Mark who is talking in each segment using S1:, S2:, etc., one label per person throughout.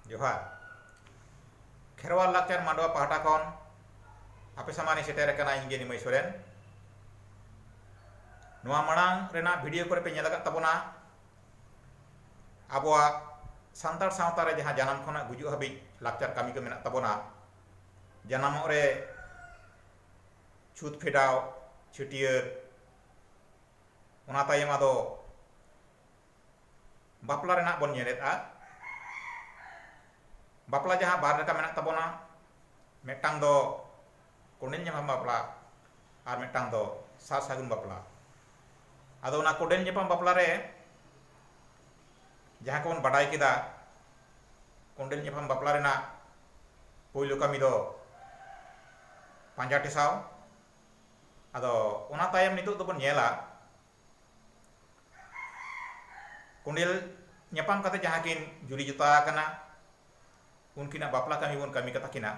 S1: ᱡᱚᱦᱟᱨ ᱠᱷᱮᱨᱣᱟᱞ ᱞᱟᱠᱪᱟᱨ ᱢᱟᱰᱣᱟ ᱯᱟᱦᱴᱟ ᱠᱷᱚᱱ ᱟᱯᱮ ᱥᱟᱢᱟᱝ ᱥᱮᱴᱮᱨ ᱟᱠᱟᱱᱟ ᱤᱧ ᱜᱮ ᱱᱤᱢᱟᱹᱭ ᱥᱚᱨᱮᱱ ᱱᱚᱣᱟ ᱢᱟᱲᱟᱝ ᱨᱮᱱᱟᱜ ᱵᱷᱤᱰᱤᱭᱳ ᱠᱚᱨᱮ ᱯᱮ ᱧᱮᱞ ᱟᱠᱟᱫ ᱛᱟᱵᱚᱱᱟ ᱟᱵᱚᱣᱟᱜ ᱥᱟᱱᱛᱟᱲ ᱥᱟᱶᱛᱟ ᱨᱮ ᱡᱟᱦᱟᱸ ᱡᱟᱱᱟᱢ ᱠᱷᱚᱱᱟᱜ ᱜᱩᱡᱩᱜ ᱦᱟᱹᱵᱤᱡ ᱞᱟᱠᱪᱟᱨ ᱠᱟᱹᱢᱤ ᱠᱚ ᱢᱮᱱᱟᱜ ᱛᱟᱵᱚᱱᱟ ᱡᱟᱱᱟᱢᱚᱜ ᱨᱮ ᱪᱷᱩᱛ ᱯᱷᱮᱰᱟᱣ ᱪᱷᱟᱹᱴᱭᱟᱹᱨ ᱚᱱᱟ ᱛᱟᱭᱚᱢ ᱟᱫᱚ ᱵᱟᱯᱞᱟ ᱨᱮᱱᱟᱜ ᱵᱚᱱ ᱧᱮᱞᱮᱫᱼᱟ ᱵᱟᱯᱞᱟ ᱡᱟᱦᱟᱸ ᱵᱟᱨ ᱞᱮᱠᱟ ᱢᱮᱱᱟᱜ ᱛᱟᱵᱚᱱᱟ ᱢᱤᱫᱴᱟᱝ ᱫᱚ ᱠᱚᱸᱰᱮᱞ ᱧᱟᱯᱟᱢ ᱵᱟᱯᱞᱟ ᱟᱨ ᱢᱤᱫᱴᱟᱝ ᱫᱚ ᱥᱟᱨ ᱥᱟᱹᱜᱩᱱ ᱵᱟᱯᱞᱟ ᱟᱫᱚ ᱚᱱᱟ ᱠᱚᱸᱰᱮᱞ ᱧᱟᱯᱟᱢ ᱵᱟᱯᱞᱟ ᱨᱮ ᱡᱟᱦᱟᱸ ᱠᱚᱵᱚᱱ ᱵᱟᱰᱟᱭ ᱠᱮᱫᱟ ᱠᱚᱸᱰᱮᱞ ᱧᱟᱯᱟᱢ ᱵᱟᱯᱞᱟ ᱨᱮᱱᱟᱜ ᱯᱳᱭᱞᱳ ᱠᱟᱹᱢᱤ ᱫᱚ ᱯᱟᱸᱡᱟ ᱴᱮᱥᱟᱣ ᱟᱫᱚ ᱚᱱᱟ ᱛᱟᱭᱚᱢ ᱱᱤᱛᱚᱜ ᱫᱚᱵᱚᱱ ᱧᱮᱞᱟ ᱠᱚᱸᱰᱮᱞ ᱧᱟᱯᱟᱢ ᱠᱟᱛᱮ ᱡᱟᱦᱟᱸ ᱠᱤᱱ ᱡᱩᱨᱤ ᱡᱚᱛᱟ ᱟᱠᱟᱱᱟ ᱩᱱᱠᱤᱱᱟᱜ ᱵᱟᱯᱞᱟ ᱠᱟᱹᱢᱤ ᱵᱚᱱ ᱠᱟᱹᱢᱤ ᱠᱟᱛᱟ ᱠᱤᱱᱟ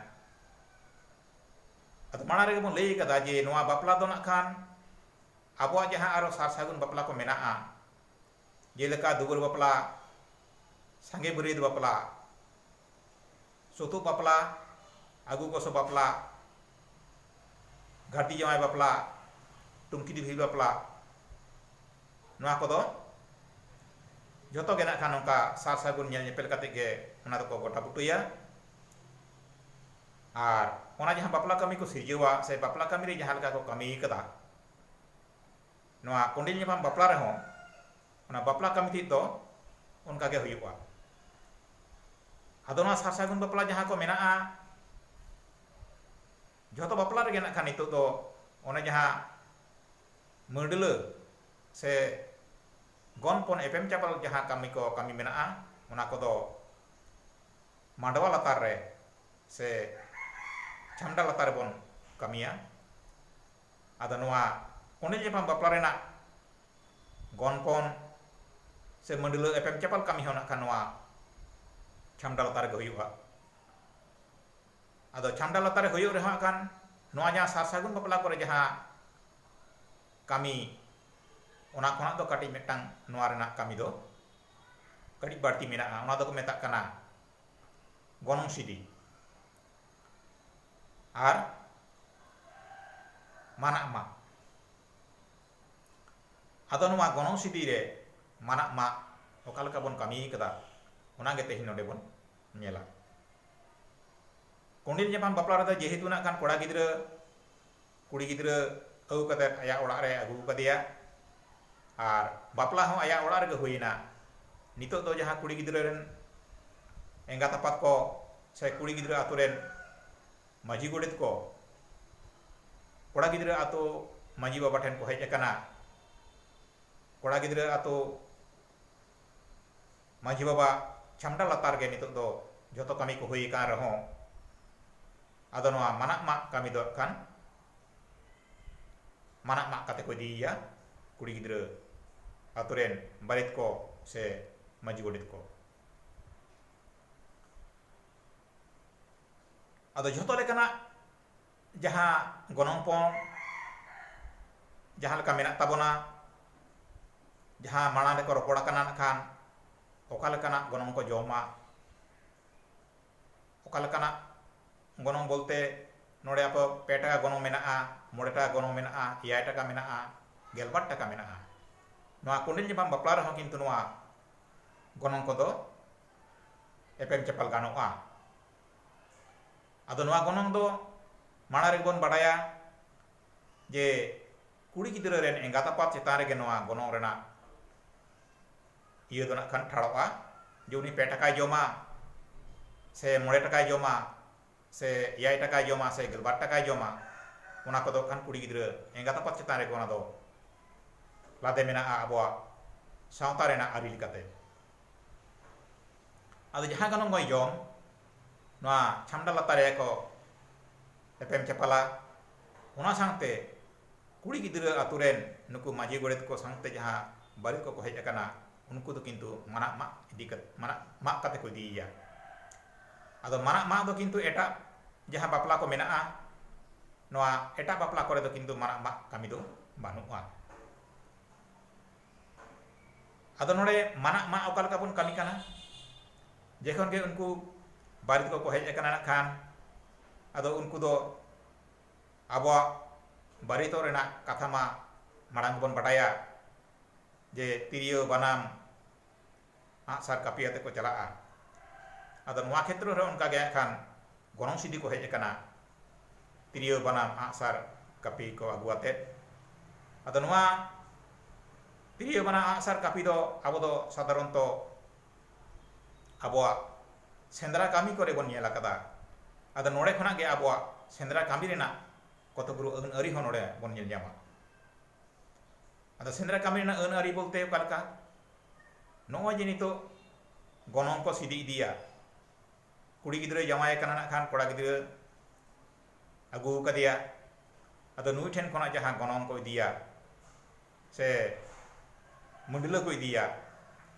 S1: ᱟᱫᱚ ᱢᱟᱲᱟᱝ ᱨᱮᱜᱮ ᱵᱚᱱ ᱞᱟᱹᱭ ᱠᱟᱫᱟ ᱡᱮ ᱱᱚᱣᱟ ᱵᱟᱯᱞᱟ ᱫᱚ ᱱᱟᱜ ᱠᱷᱟᱱ ᱟᱵᱚᱣᱟᱜ ᱡᱟᱦᱟᱸ ᱟᱨᱚ ᱥᱟᱨ ᱥᱟᱹᱜᱩᱱ ᱵᱟᱯᱞᱟ ᱠᱚ ᱢᱮᱱᱟᱜᱼᱟ ᱡᱮᱞᱮᱠᱟ ᱫᱩᱣᱟᱹᱨ ᱵᱟᱯᱞᱟ ᱥᱟᱸᱜᱮ ᱵᱟᱹᱨᱭᱟᱹᱛ ᱵᱟᱯᱞᱟ ᱥᱩᱛᱩᱜ ᱵᱟᱯᱞᱟ, ᱟᱹᱜᱩ ᱜᱚᱥᱚ ᱵᱟᱯᱞᱟ, ᱜᱷᱟᱹᱨᱫᱤ ᱡᱟᱶᱟᱭ ᱵᱟᱯᱞᱟ, ᱴᱩᱝᱠᱤ ᱰᱤᱵᱷᱤᱨ ᱵᱟᱯᱞᱟ ᱱᱚᱣᱟ ᱠᱚᱫᱚ ᱡᱷᱚᱛᱚ ᱜᱮ ᱱᱟᱜ ᱠᱷᱟᱱ ᱱᱚᱝᱠᱟ ᱥᱟᱨ ᱥᱟᱹᱜᱩᱱ ᱧᱮᱞ ᱧᱮᱯᱮᱞ ᱠᱟᱛᱮ ᱜᱮ ᱚᱱᱟ ᱫᱚᱠᱚ ᱜᱚᱴᱟ ᱵᱩᱴᱟᱹᱭᱟ ᱟᱨ ᱚᱱᱟ ᱡᱟᱦᱟᱸ ᱵᱟᱯᱞᱟ ᱠᱟᱹᱢᱤ ᱠᱚ ᱥᱤᱨᱡᱟᱹᱣᱟ ᱥᱮ ᱵᱟᱯᱞᱟ ᱠᱟᱹᱢᱤ ᱨᱮ ᱡᱟᱦᱟᱸ ᱞᱮᱠᱟ ᱠᱚ ᱠᱟᱹᱢᱤ ᱟᱠᱟᱫᱟ ᱱᱚᱣᱟ ᱠᱚᱸᱰᱮᱞ ᱧᱟᱯᱟᱢ ᱵᱟᱯᱞᱟ ᱨᱮᱦᱚᱸ ᱚᱱᱟ ᱵᱟᱯᱞᱟ ᱠᱟᱹᱢᱤ ᱛᱮᱫ ᱫᱚ ᱚᱱᱠᱟ ᱜᱮ ᱦᱩᱭᱩᱜᱼᱟ ᱟᱫᱚ ᱱᱚᱣᱟ ᱥᱟᱨ ᱥᱟᱹᱜᱩᱱ ᱵᱟᱯᱞᱟ ᱡᱟᱦᱟᱸ ᱠᱚ ᱢᱮᱱᱟᱜᱼᱟ ᱡᱷᱚᱛᱚ ᱵᱟᱯᱞᱟ ᱨᱮᱜᱮ ᱱᱟᱜ ᱠᱷᱟᱱ ᱱᱤᱛᱚᱜ ᱫᱚ ᱚᱱᱮ ᱡᱟᱦᱟᱸ ᱢᱟᱹᱰᱞᱟᱹ ᱥᱮ ᱜᱚᱱᱯᱚᱱ ᱮᱯᱮᱢ ᱪᱟᱯᱟᱞ ᱡᱟᱦᱟᱸ ᱠᱟᱹᱢᱤ ᱠᱚ ᱠᱟᱹᱢᱤ ᱢᱮᱱᱟᱜᱼᱟ ᱚᱱᱟ ᱠᱚᱫᱚ ᱢᱟᱰᱣᱟ ᱞᱟᱛᱟᱨ ᱨᱮ ᱥᱮ ᱪᱷᱟᱢᱰᱟ ᱞᱟᱛᱟᱨ ᱨᱮᱵᱚᱱ ᱠᱟᱹᱢᱤᱭᱟ ᱟᱫᱚ ᱱᱚᱣᱟ ᱠᱚᱸᱰᱮᱞ ᱧᱟᱯᱟᱢ ᱵᱟᱯᱞᱟ ᱨᱮᱱᱟᱜ ᱜᱚᱱᱯᱚᱱ ᱥᱮ ᱢᱟᱹᱰᱞᱟᱹ ᱮᱯᱮᱢ ᱪᱟᱯᱟᱞ ᱠᱟᱹᱢᱤ ᱦᱚᱸ ᱱᱟᱜ ᱠᱷᱟᱱ ᱱᱚᱣᱟ ᱪᱷᱟᱢᱰᱟ ᱞᱟᱛᱟᱨ ᱨᱮᱜᱮ ᱦᱩᱭᱩᱜᱼᱟ ᱟᱫᱚ ᱪᱷᱟᱢᱰᱟ ᱞᱟᱛᱟᱨ ᱨᱮ ᱦᱩᱭᱩᱜ ᱨᱮᱦᱚᱸ ᱦᱟᱸᱜ ᱠᱷᱟᱱ ᱱᱚᱣᱟ ᱡᱟᱦᱟᱸ ᱥᱟᱨ ᱥᱟᱹᱜᱩᱱ ᱵᱟᱯᱞᱟ ᱠᱚᱨᱮ ᱡᱟᱦᱟᱸ ᱠᱟᱹᱢᱤ ᱚᱱᱟ ᱠᱷᱚᱱᱟᱜ ᱫᱚ ᱠᱟᱹᱴᱤᱡ ᱢᱤᱫᱴᱟᱝ ᱱᱚᱣᱟ ᱨᱮᱱᱟᱜ ᱠᱟᱹᱢᱤ ᱫᱚ ᱠᱟᱹᱴᱤᱡ ᱵᱟᱹᱲᱛᱤ ᱢᱮᱱᱟᱜᱼᱟ ᱚᱱᱟ ᱫᱚᱠᱚ ᱢᱮᱛᱟᱜ ᱠᱟᱱᱟ ᱜᱚᱱᱚᱝ ᱥᱤᱫᱤ ᱟᱨ ᱢᱟᱱᱟᱜ ᱢᱟᱜ ᱟᱫᱚ ᱱᱚᱣᱟ ᱜᱚᱱᱚᱝ ᱥᱤᱫᱤ ᱨᱮ ᱢᱟᱱᱟᱜ ᱢᱟᱜ ᱚᱠᱟ ᱞᱮᱠᱟ ᱵᱚᱱ ᱠᱟᱹᱢᱤ ᱠᱟᱫᱟ ᱚᱱᱟ ᱜᱮ ᱛᱮᱦᱮᱧ ᱱᱚᱰᱮ ᱵᱚᱱ ᱧᱮᱞᱟ ᱠᱚᱸᱰᱮᱞ ᱧᱟᱯᱟᱢ ᱵᱟᱯᱞᱟ ᱨᱮᱫᱚ ᱡᱮᱦᱮᱛᱩ ᱱᱟᱜ ᱠᱷᱟᱱ ᱠᱚᱲᱟ ᱜᱤᱫᱽᱨᱟᱹ ᱠᱩᱲᱤ ᱜᱤᱫᱽᱨᱟᱹ ᱟᱹᱜᱩ ᱠᱟᱛᱮ ᱟᱭᱟᱜ ᱚᱲᱟᱜ ᱨᱮ ᱟᱹᱜᱩ ᱠᱟᱫᱮᱭᱟ ᱟᱨ ᱵᱟᱯᱞᱟ ᱦᱚᱸ ᱟᱭᱟᱜ ᱚᱲᱟᱜ ᱨᱮᱜᱮ ᱦᱩᱭᱮᱱᱟ ᱱᱤᱛᱚᱜ ᱫᱚ ᱡᱟᱦᱟᱸ ᱠᱩᱲᱤ ᱜᱤᱫᱽᱨᱟᱹ ᱨᱮᱱ ᱮᱸᱜᱟᱛ ᱟᱯᱟᱛ ᱠᱚ ᱥᱮ ᱠᱩᱲᱤ ᱜᱤᱫᱽᱨᱟᱹ ᱟᱛᱳ ᱨᱮᱱ ᱢᱟᱹᱡᱷᱤ ᱜᱚᱰᱮᱛ ᱠᱚ ᱠᱚᱲᱟ ᱜᱤᱫᱽᱨᱟᱹ ᱟᱛᱳ ᱢᱟᱹᱡᱷᱤ ᱵᱟᱵᱟ ᱴᱷᱮᱱ ᱠᱚ ᱦᱮᱡ ᱟᱠᱟᱱᱟ ᱠᱚᱲᱟ ᱜᱤᱫᱽᱨᱟᱹ ᱟᱛᱳ ᱢᱟᱹᱡᱷᱤ ᱵᱟᱵᱟ ᱪᱷᱟᱢᱰᱟ ᱞᱟᱛᱟᱨ ᱨᱮᱜᱮ ᱱᱤᱛᱚᱜ ᱫᱚ ᱡᱷᱚᱛᱚ ᱠᱟᱹᱢᱤ ᱠᱚ ᱦᱩᱭ ᱟᱠᱟᱱ ᱨᱮᱦᱚᱸ ᱟᱫᱚ ᱱᱚᱣᱟ ᱢᱟᱱᱟᱜ ᱢᱟᱜ ᱠᱟᱹᱢᱤ ᱫᱚ ᱟᱠᱷᱟᱱ ᱢᱟᱱᱟᱜ ᱢᱟᱜ ᱠᱟᱛᱮ ᱠᱚ ᱤᱫᱤᱭᱮᱭᱟ ᱠᱩᱲᱤ ᱜᱤᱫᱽᱨᱟᱹ ᱟᱛᱳ ᱨᱮᱱ ᱵᱟᱨᱮᱛ ᱠᱚ ᱥᱮ ᱢᱟᱹᱡᱷᱤ ᱜᱚᱰᱮᱛ ᱠᱚ ᱟᱫᱚ ᱡᱷᱚᱛᱚ ᱞᱮᱠᱟᱱᱟᱜ ᱡᱟᱦᱟᱸ ᱜᱚᱱᱚᱝ ᱯᱚᱱ ᱡᱟᱦᱟᱸ ᱞᱮᱠᱟ ᱢᱮᱱᱟᱜ ᱛᱟᱵᱚᱱᱟ ᱡᱟᱦᱟᱸ ᱢᱟᱲᱟᱝ ᱨᱮᱠᱚ ᱨᱚᱯᱚᱲ ᱟᱠᱟᱱᱟ ᱠᱷᱟᱱ ᱚᱠᱟ ᱞᱮᱠᱟᱱᱟᱜ ᱜᱚᱱᱚᱝ ᱠᱚ ᱡᱚᱢᱟ ᱚᱠᱟ ᱞᱮᱠᱟᱱᱟᱜ ᱜᱚᱱᱚᱝ ᱵᱚᱞᱛᱮ ᱱᱚᱰᱮ ᱟᱯᱮ ᱯᱮ ᱴᱟᱠᱟ ᱜᱚᱱᱚᱝ ᱢᱮᱱᱟᱜᱼᱟ ᱢᱚᱬᱮ ᱴᱟᱠᱟ ᱜᱚᱱᱚᱝ ᱢᱮᱱᱟᱜᱼᱟ ᱮᱭᱟᱭ ᱴᱟᱠᱟ ᱢᱮᱱᱟᱜᱼᱟ ᱜᱮᱞᱵᱟᱨ ᱴᱟᱠᱟ ᱢᱮᱱᱟᱜᱼᱟ ᱱᱚᱣᱟ ᱠᱚᱸᱰᱮᱞ ᱧᱟᱯᱟᱢ ᱵᱟᱯᱞᱟ ᱨᱮᱦᱚᱸ ᱠᱤᱱᱛᱩ ᱱᱚᱣᱟ ᱜᱚᱱᱚᱝ ᱠᱚᱫᱚ ᱮᱯᱮᱢ ᱪᱟᱯᱟᱞ ᱜᱟᱱᱚᱜᱼᱟ ᱟᱫᱚ ᱱᱚᱣᱟ ᱜᱚᱱᱚᱝ ᱫᱚ ᱢᱟᱲᱟᱝ ᱨᱮᱜᱮ ᱵᱚᱱ ᱵᱟᱰᱟᱭᱟ ᱡᱮ ᱠᱩᱲᱤ ᱜᱤᱫᱽᱨᱟᱹ ᱨᱮᱱ ᱮᱸᱜᱟᱛ ᱟᱯᱟᱛ ᱪᱮᱛᱟᱱ ᱨᱮᱜᱮ ᱱᱚᱣᱟ ᱜᱚᱱᱚᱝ ᱨᱮᱱᱟᱜ ᱤᱭᱟᱹ ᱫᱚ ᱱᱟᱜ ᱠᱷᱟᱱ ᱴᱷᱟᱲᱚᱜᱼᱟ ᱡᱮ ᱩᱱᱤ ᱯᱮ ᱴᱟᱠᱟᱭ ᱡᱚᱢᱟ ᱥᱮ ᱢᱚᱬᱮ ᱴᱟᱠᱟᱭ ᱡᱚᱢᱟ ᱥᱮ ᱮᱭᱟᱭ ᱴᱟᱠᱟᱭ ᱡᱚᱢᱟ ᱥᱮ ᱜᱮᱞᱵᱟᱨ ᱴᱟᱠᱟᱭ ᱡᱚᱢᱟ ᱚᱱᱟ ᱠᱚᱫᱚ ᱠᱷᱟᱱ ᱠᱩᱲᱤ ᱜᱤᱫᱽᱨᱟᱹ ᱮᱸᱜᱟᱛ ᱟᱯᱟᱛ ᱪᱮᱛᱟᱱ ᱨᱮᱜᱮ ᱚᱱᱟ ᱫᱚ ᱞᱟᱫᱮ ᱢᱮᱱᱟᱜᱼᱟ ᱟᱵᱚᱣᱟᱜ ᱥᱟᱶᱛᱟ ᱨᱮᱱᱟᱜ ᱟᱹᱨᱤ ᱞᱮᱠᱟᱛᱮ ᱟᱫᱚ ᱡᱟᱦᱟᱸ ᱜᱚᱱᱚᱝ ᱜᱚᱭ ᱡᱚᱢ ᱱᱚᱣᱟ ᱪᱷᱟᱢᱰᱟ ᱞᱟᱛᱟᱨ ᱨᱮ ᱠᱚ ᱮᱯᱮᱢ ᱪᱟᱯᱟᱞᱟ ᱚᱱᱟ ᱥᱟᱶᱛᱮ ᱠᱩᱲᱤ ᱜᱤᱫᱽᱨᱟᱹ ᱟᱛᱳ ᱨᱮᱱ ᱱᱩᱠᱩ ᱢᱟᱹᱡᱷᱤ ᱜᱚᱰᱮᱛ ᱠᱚ ᱥᱟᱶᱛᱮ ᱡᱟᱦᱟᱸ ᱵᱟᱹᱨᱮ ᱠᱚᱠᱚ ᱦᱮᱡ ᱟᱠᱟᱱᱟ ᱩᱱᱠᱩ ᱫᱚ ᱠᱤᱱᱛᱩ ᱢᱟᱨᱟᱜ ᱢᱟᱜ ᱤᱫᱤ ᱠᱟᱛᱮ ᱢᱟᱨᱟᱜ ᱢᱟᱜ ᱠᱟᱛᱮ ᱠᱚ ᱤᱫᱤᱭᱮᱭᱟ ᱟᱫᱚ ᱢᱟᱨᱟᱜ ᱢᱟᱜ ᱫᱚ ᱠᱤᱱᱛᱩ ᱮᱴᱟᱜ ᱡᱟᱦᱟᱸ ᱵᱟᱯᱞᱟ ᱠᱚ ᱢᱮᱱᱟᱜᱼᱟ ᱱᱚᱣᱟ ᱮᱴᱟᱜ ᱵᱟᱯᱞᱟ ᱠᱚᱨᱮ ᱫᱚ ᱠᱤᱱᱛᱩ ᱢᱟᱨᱟᱜ ᱢᱟᱜ ᱠᱟᱹᱢᱤ ᱫᱚ ᱵᱟᱹᱱᱩᱜᱼᱟ ᱟᱫᱚ ᱱᱚᱰᱮ ᱢᱟᱱᱟᱜ ᱢᱟ ᱚᱠᱟ ᱞᱮᱠᱟ ᱵᱚᱱ ᱠᱟᱹᱢᱤ ᱠᱟᱱᱟ ᱡᱮᱠᱷᱚᱱ ᱜᱮ ᱩᱱᱠᱩ ᱵᱟᱨᱮᱛ ᱠᱚᱠᱚ ᱦᱮᱡ ᱟᱠᱟᱱᱟ ᱠᱷᱟᱱ ᱟᱫᱚ ᱩᱱᱠᱩ ᱫᱚ ᱟᱵᱚᱣᱟᱜ ᱵᱟᱨᱮᱛᱚᱜ ᱨᱮᱱᱟᱜ ᱠᱟᱛᱷᱟ ᱢᱟ ᱢᱟᱲᱟᱝ ᱵᱚᱱ ᱵᱟᱰᱟᱭᱟ ᱡᱮ ᱛᱤᱨᱭᱳ ᱵᱟᱱᱟᱢ ᱟᱸᱜ ᱥᱟᱨ ᱠᱟᱹᱯᱤ ᱟᱛᱮ ᱠᱚ ᱪᱟᱞᱟᱜᱼᱟ᱾ ᱟᱫᱚ ᱱᱚᱣᱟ ᱠᱷᱮᱛᱨᱚ ᱨᱮᱦᱚᱸ ᱚᱱᱠᱟ ᱜᱮ ᱦᱟᱸᱜ ᱠᱷᱟᱱ ᱜᱚᱱᱚᱝ ᱥᱤᱫᱤ ᱠᱚ ᱦᱮᱡ ᱟᱠᱟᱱᱟ᱾ ᱛᱤᱨᱭᱟᱹ ᱵᱟᱱᱟᱢ ᱟᱸᱜ ᱥᱟᱨ ᱠᱟᱹᱯᱤ ᱠᱚ ᱟᱹᱜᱩ ᱟᱛᱮ᱾ ᱟᱫᱚ ᱱᱚᱣᱟ ᱛᱤᱨᱭᱟᱹ ᱵᱟᱱᱟᱢ ᱟᱸᱜ ᱥᱟᱨ ᱠᱟᱹᱯᱤ ᱫᱚ ᱟᱵᱚ ᱫᱚ ᱥᱟᱫᱷᱟᱨᱚᱱᱛᱚ ᱟᱵᱚᱣᱟᱜ ᱥᱮᱸᱫᱽᱨᱟ ᱠᱟᱹᱢᱤ ᱠᱚᱨᱮ ᱵᱚᱱ ᱧᱮᱞ ᱟᱠᱟᱫᱟ᱾ ᱟᱫᱚ ᱱᱚᱰᱮ ᱠᱷᱚᱱᱟᱜ ᱜᱮ ᱟᱵᱚᱣᱟᱜ ᱥᱮᱸᱫᱽᱨᱟ ᱠᱟᱹᱢᱤ ᱨᱮᱱᱟᱜ ᱠᱚᱛᱚᱜᱩᱨᱩ ᱟᱹᱱ ᱟᱹᱨᱤ ᱦᱚᱸ ᱱᱚᱰᱮ ᱵᱚᱱ ᱧᱮᱞ ᱧᱟᱢᱟ᱾ ᱟᱫᱚ ᱥᱮᱸᱫᱽᱨᱟ ᱠᱟᱹᱢᱤ ᱨᱮᱱᱟᱜ ᱟᱹᱱ ᱟᱹᱨᱤ ᱵᱚᱞᱛᱮ ᱚᱠᱟ ᱞᱮᱠᱟ ᱱᱚᱜᱼᱚᱭ ᱡᱮ ᱱᱤᱛᱚᱜ ᱜᱚᱱᱚᱝ ᱠᱚ ᱥᱤᱫᱤ ᱤᱫᱤᱭᱟ ᱠᱩᱲᱤ ᱜᱤᱫᱽᱨᱟᱹ ᱡᱟᱶᱟᱭ ᱟᱠᱟᱱᱟ ᱱᱟᱜ ᱠᱷᱟᱱ ᱠᱚᱲᱟ ᱜᱤᱫᱽᱨᱟᱹ ᱟᱹᱜᱩ ᱟᱠᱟᱫᱮᱭᱟ ᱟᱫᱚ ᱱᱩᱭ ᱴᱷᱮᱱ ᱠᱷᱚᱱᱟᱜ ᱡᱟᱦᱟᱸ ᱜᱚᱱᱚᱝ ᱠᱚ ᱤᱫᱤᱭᱟ ᱥᱮ ᱢᱩᱰᱞᱟᱹ ᱠᱚ ᱤᱫᱤᱭᱟ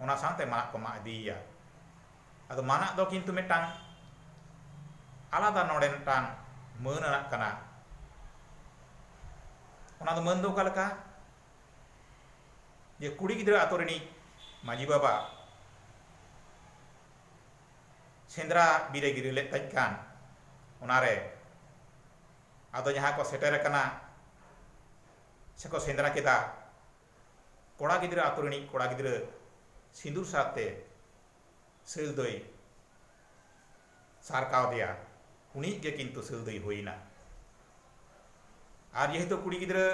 S1: ᱚᱱᱟ ᱥᱟᱶᱛᱮ ᱢᱟᱜ ᱠᱚ ᱢᱟᱜ ᱤᱫᱤᱭᱮᱭᱟ ᱟᱫᱚ ᱢᱟᱱᱟᱜ ᱫᱚ ᱠᱤᱱᱛᱩ ᱢᱤᱫᱴᱟᱝ ᱟᱞᱟᱫᱟ ᱱᱚᱰᱮ ᱢᱤᱫᱴᱟᱝ ᱢᱟᱹᱱ ᱟᱱᱟᱜ ᱠᱟᱱᱟ ᱚᱱᱟ ᱫᱚ ᱢᱟᱹᱱ ᱫᱚ ᱚᱠᱟ ᱞᱮᱠᱟ ᱡᱮ ᱠᱩᱲᱤ ᱜᱤᱫᱽᱨᱟᱹ ᱟᱛᱳ ᱨᱤᱱᱤᱡ ᱢᱟᱹᱡᱷᱤ ᱵᱟᱵᱟ ᱥᱮᱸᱫᱽᱨᱟ ᱵᱤᱨᱮ ᱜᱤᱨᱟᱹ ᱞᱮᱫ ᱛᱟᱦᱮᱸ ᱠᱟᱱ ᱚᱱᱟᱨᱮ ᱟᱫᱚ ᱡᱟᱦᱟᱸ ᱠᱚ ᱥᱮᱴᱮᱨ ᱟᱠᱟᱱᱟ ᱥᱮᱠᱚ ᱥᱮᱸᱫᱽᱨᱟ ᱠᱮᱫᱟ ᱠᱚᱲᱟ ᱜᱤᱫᱽᱨᱟᱹ ᱟᱛᱳ ᱨᱤᱱᱤᱡ ᱠᱚᱲᱟ ᱜᱤᱫᱽᱨᱟᱹ ᱥᱤᱸᱫᱩᱨ ᱥᱟᱶᱛᱮ ᱥᱤᱞ ᱫᱚᱭ ᱥᱟᱨ ᱠᱟᱣᱫᱮᱭᱟ ᱩᱱᱤᱭᱤᱡ ᱜᱮ ᱠᱤᱱᱛᱩ ᱥᱤᱞ ᱫᱚᱭ ᱦᱩᱭᱮᱱᱟ ᱟᱨ ᱡᱮᱦᱮᱛᱩ ᱠᱩᱲᱤ ᱜᱤᱫᱽᱨᱟᱹ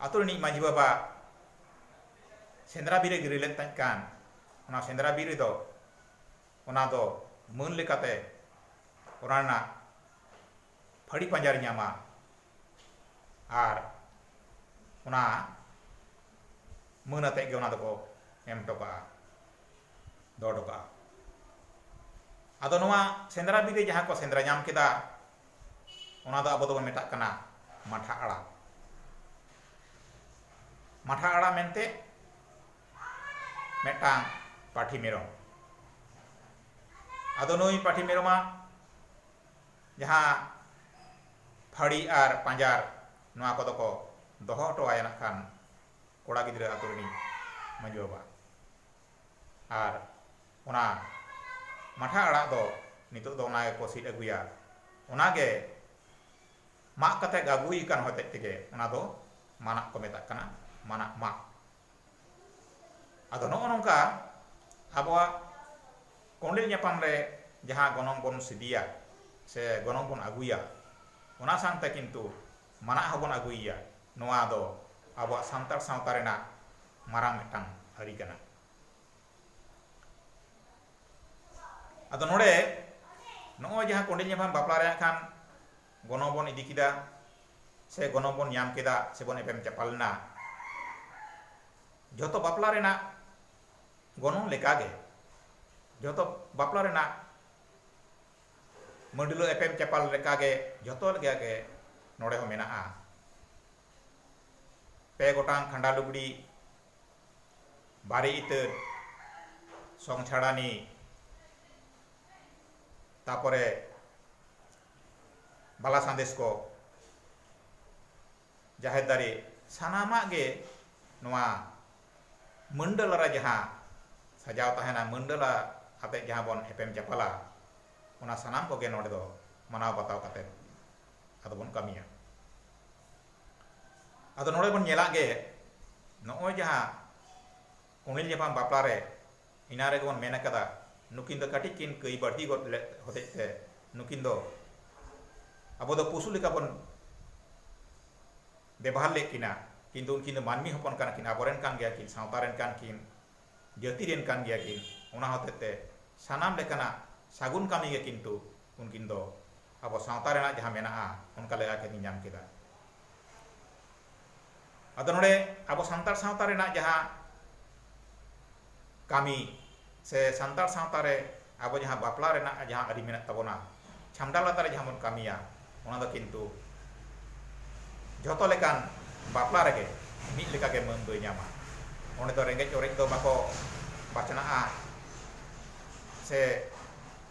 S1: ᱟᱛᱳ ᱨᱤᱱᱤᱡ ᱢᱟᱹᱡᱷᱤ ᱵᱟᱵᱟ ᱥᱮᱸᱫᱽᱨᱟ ᱵᱤᱨ ᱮ ᱜᱤᱨᱟᱹ ᱞᱮᱫ ᱛᱟᱦᱮᱸ ᱠᱟᱱ ᱚᱱᱟ ᱥᱮᱸᱫᱽᱨᱟ ᱵᱤᱨ ᱨᱮᱫᱚ ᱚᱱᱟ ᱫᱚ ᱢᱟᱹᱱ ᱞᱮᱠᱟᱛᱮ ᱚᱱᱟ ᱨᱮᱱᱟᱜ ᱯᱷᱟᱹᱲᱤ ᱯᱟᱸᱡᱟᱨᱮ ᱧᱟᱢᱟ ᱟᱨ ᱚᱱᱟ ᱢᱟᱹᱱ ᱟᱛᱮᱫ ᱜᱮ ᱚᱱᱟ ᱫᱚᱠᱚ ᱮᱢ ᱦᱚᱴᱚ ᱠᱟᱜᱼᱟ ᱫᱚᱦᱚ ᱦᱚᱴᱚ ᱠᱟᱜᱼᱟ ᱟᱫᱚ ᱱᱚᱣᱟ ᱥᱮᱸᱫᱽᱨᱟ ᱵᱤᱨ ᱨᱮ ᱡᱟᱦᱟᱸ ᱠᱚ ᱥᱮᱸᱫᱽᱨᱟ ᱧᱟᱢ ᱠᱮᱫᱟ ᱚᱱᱟ ᱫᱚ ᱟᱵᱚ ᱫᱚᱵᱚᱱ ᱢᱮᱛᱟᱜ ᱠᱟᱱᱟ ᱢᱟᱴᱷᱟ ᱟᱲᱟ ᱢᱟᱴᱷᱟ ᱟᱲᱟ ᱢᱮᱱᱛᱮ ᱢᱤᱫᱴᱟᱝ ᱯᱟᱹᱴᱷᱤ ᱢᱮᱨᱚᱢ ᱟᱫᱚ ᱱᱩᱭ ᱯᱟᱹᱴᱷᱤ ᱢᱮᱨᱚᱢᱟᱜ ᱡᱟᱦᱟᱸ ᱯᱷᱟᱹᱲᱤ ᱟᱨ ᱯᱟᱸᱡᱟᱨ ᱱᱚᱣᱟ ᱠᱚᱫᱚ ᱠᱚ ᱫᱚᱦᱚ ᱦᱚᱴᱚ ᱟᱭᱟ ᱱᱟᱜ ᱠᱷᱟᱱ ᱠᱚᱲᱟ ᱜᱤᱫᱽᱨᱟᱹ ᱟᱛᱳ ᱨᱤᱱᱤᱡ ᱢᱟᱹᱡᱷᱤ ᱵᱟᱵᱟ ᱟᱨ ᱚᱱᱟ ᱢᱟᱴᱷᱟ ᱟᱲᱟᱜ ᱫᱚ ᱱᱤᱛᱚᱜ ᱫᱚ ᱚᱱᱟ ᱜᱮᱠᱚ ᱥᱤᱫ ᱟᱹᱜᱩᱭᱟ ᱚᱱᱟ ᱜᱮ ᱢᱟᱜ ᱠᱟᱛᱮ ᱟᱹᱜᱩᱭ ᱠᱟᱱ ᱦᱚᱛᱮᱡ ᱛᱮᱜᱮ ᱚᱱᱟ ᱫᱚ ᱢᱟᱱᱟᱜ ᱠᱚ ᱢᱮᱛᱟᱜ ᱠᱟᱱᱟ ᱢᱟᱱᱟᱜ ᱢᱟᱜ ᱟᱫᱚ ᱱᱚᱜᱼᱚ ᱱᱚᱝᱠᱟ ᱟᱵᱚᱣᱟᱜ ᱠᱚᱸᱰᱮᱞ ᱧᱟᱯᱟᱢ ᱨᱮ ᱡᱟᱦᱟᱸ ᱜᱚᱱᱚᱝ ᱵᱚᱱ ᱥᱤᱫᱤᱭᱟ ᱥᱮ ᱜᱚᱱᱚᱝ ᱵᱚᱱ ᱟᱹᱜᱩᱭᱟ ᱚᱱᱟ ᱥᱟᱶᱛᱮ ᱠᱤᱱᱛᱩ ᱢᱟᱱᱟᱜ ᱦᱚᱸᱵᱚᱱ ᱟᱹᱜᱩᱭᱮᱭᱟ ᱱᱚᱣᱟ ᱫᱚ ᱟᱵᱚᱣᱟᱜ ᱥᱟᱱᱛᱟᱲ ᱥᱟᱶᱛᱟ ᱨᱮᱱᱟᱜ ᱢᱟᱨᱟᱝ ᱢᱤᱫᱴᱟᱝ ᱟᱹᱨᱤ ᱠᱟᱱᱟ ᱟᱫᱚ ᱱᱚᱰᱮ ᱱᱚᱜᱼᱚᱭ ᱡᱟᱦᱟᱸ ᱠᱚᱸᱰᱮᱞ ᱧᱟᱯᱟᱢ ᱵᱟᱯᱞᱟ ᱨᱮᱭᱟᱜ ᱠᱷᱟᱱ ᱜᱚᱱᱚᱝ ᱵᱚᱱ ᱤᱫᱤ ᱠᱮᱫᱟ ᱥᱮ ᱜᱚᱱᱚᱝ ᱵᱚᱱ ᱧᱟᱢ ᱠᱮᱫᱟ ᱥᱮ ᱵᱚᱱ ᱮᱯᱮᱢ ᱪᱟᱯᱟᱞ ᱮᱱᱟ ᱡᱚᱛᱚ ᱵᱟᱯᱞᱟ ᱨᱮᱱᱟᱜ ᱜᱚᱱᱚᱝ ᱞᱮᱠᱟ ᱜᱮ ᱡᱚᱛᱚ ᱵᱟᱯᱞᱟ ᱨᱮᱱᱟᱜ ᱢᱟᱹᱰᱞᱟᱹ ᱮᱯᱮᱢ ᱪᱟᱯᱟᱞ ᱞᱮᱠᱟ ᱜᱮ ᱡᱚᱛᱚ ᱞᱮᱠᱟ ᱜᱮ ᱱᱚᱰᱮ ᱦᱚᱸ ᱢᱮᱱᱟᱜᱼᱟ ᱯᱮ ᱜᱚᱴᱟᱝ ᱠᱷᱟᱸᱰᱟ ᱞᱩᱜᱽᱲᱤ ᱵᱟᱨᱮ ᱤᱛᱟᱹ ᱥᱚᱝ ᱪᱷᱟᱲᱟᱱᱤ ᱛᱟᱯᱚᱨᱮ ᱵᱟᱞᱟ ᱥᱟᱸᱫᱮᱥ ᱠᱚ ᱡᱟᱦᱮᱨ ᱫᱟᱨᱮ ᱥᱟᱱᱟᱢᱟᱜ ᱜᱮ ᱱᱚᱣᱟ ᱢᱟᱹᱱᱰᱟᱹᱞᱟ ᱨᱮ ᱡᱟᱦᱟᱸ ᱥᱟᱡᱟᱣ ᱛᱟᱦᱮᱱᱟ ᱢᱟᱹᱱᱰᱟᱹᱞᱟ ᱟᱛᱮ ᱡᱟᱦᱟᱸ ᱵᱚᱱ ᱮᱯᱮᱢ ᱪᱟᱯᱟᱞᱟ ᱚᱱᱟ ᱥᱟᱱᱟᱢ ᱠᱚᱜᱮ ᱱᱚᱰᱮ ᱫᱚ ᱢᱟᱱᱟᱣ ᱵᱟᱛᱟᱣ ᱠᱟᱛᱮ ᱟᱫᱚ ᱵᱚᱱ ᱠᱟᱹᱢᱤᱭᱟ ᱟᱫᱚ ᱱᱚᱰᱮ ᱵᱚᱱ ᱧᱮᱞᱟᱜ ᱜᱮ ᱱᱚᱜᱼᱚᱭ ᱡᱟᱦᱟᱸ ᱠᱚᱸᱰᱮᱞ ᱧᱟᱯᱟᱢ ᱵᱟᱯᱞᱟ ᱨᱮ ᱮᱱᱟᱝ ᱨᱮᱜᱮ ᱵᱚᱱ ᱢᱮᱱ ᱟᱠᱟᱫᱟ ᱱᱩᱠᱤᱱ ᱫᱚ ᱠᱟᱹᱴᱤᱡ ᱠᱤᱱ ᱠᱟᱹᱭ ᱵᱟᱹᱲᱛᱤ ᱜᱚᱫ ᱞᱮᱫ ᱦᱚᱛᱮᱡ ᱛᱮ ᱱᱩᱠᱤᱱ ᱫᱚ ᱟᱵᱚ ᱫᱚ ᱯᱚᱥᱩ ᱞᱮᱠᱟ ᱵᱚᱱ ᱵᱮᱵᱚᱦᱟᱨ ᱞᱮᱫ ᱠᱤᱱᱟ ᱠᱤᱱᱛᱩ ᱩᱱᱠᱤᱱ ᱫᱚ ᱢᱟᱹᱱᱢᱤ ᱦᱚᱯᱚᱱ ᱠᱟᱱᱟ ᱠᱤᱱ ᱟᱵᱚ ᱨᱮᱱ ᱠᱟᱱ ᱜᱮᱭᱟ ᱠᱤᱱ ᱥᱟᱶᱛᱟ ᱨᱮᱱ ᱠᱟᱱ ᱠᱤᱱ ᱡᱟᱹᱛᱤ ᱨᱮᱱ ᱠᱟᱱ ᱜᱮᱭᱟ ᱠᱤᱱ ᱚᱱᱟ ᱦᱚᱛᱮᱡ ᱛᱮ ᱥᱟᱱᱟᱢ ᱞᱮᱠᱟᱱᱟᱜ ᱥᱟᱹᱜᱩᱱ ᱠᱟᱹᱢᱤ ᱜᱮ ᱠᱤᱱᱛᱩ ᱩᱱᱠᱤᱱ ᱫᱚ ᱟᱵᱚ ᱥᱟᱶᱛᱟ ᱨᱮᱱᱟᱜ ᱡᱟᱦᱟᱸ ᱢᱮᱱᱟᱜᱼᱟ ᱚᱱᱠᱟ ᱞᱮᱠᱟ ᱜᱮ ᱧᱮᱧᱟᱢ ᱠᱮᱫᱟ ᱟᱫᱚ ᱱᱚᱰᱮ ᱟᱵᱚ ᱥᱟᱱᱛᱟᱲ ᱥᱟᱶᱛᱟ ᱨᱮᱱᱟᱜ ᱡᱟᱦᱟᱸ ᱠᱟᱹᱢᱤ ᱥᱮ ᱥᱟᱱᱛᱟᱲ ᱥᱟᱶᱛᱟ ᱨᱮ ᱟᱵᱚ ᱡᱟᱦᱟᱸ ᱵᱟᱯᱞᱟ ᱨᱮᱱᱟᱜ ᱡᱟᱦᱟᱸ ᱟᱹᱨᱤ ᱢᱮᱱᱟᱜ ᱛᱟᱵᱚᱱᱟ ᱪᱷᱟᱢᱰᱟ ᱞᱟᱛᱟᱨ ᱨᱮ ᱡᱟᱦᱟᱸ ᱵᱚᱱ ᱠᱟᱹᱢᱤᱭᱟ ᱚᱱᱟ ᱫᱚ ᱠᱤᱱᱛᱩ ᱡᱚᱛᱚ ᱞᱮᱠᱟᱱ ᱵᱟᱯᱞᱟ ᱨᱮᱜᱮ ᱢᱤᱫ ᱞᱮᱠᱟ ᱜᱮ ᱢᱟᱹᱱ ᱫᱚᱭ ᱧᱟᱢᱟ ᱚᱸᱰᱮ ᱫᱚ ᱨᱮᱸᱜᱮᱡ ᱚᱨᱮᱡ ᱫᱚ ᱵᱟᱠᱚ ᱵᱟᱪᱷᱱᱟᱜᱼᱟ ᱥᱮ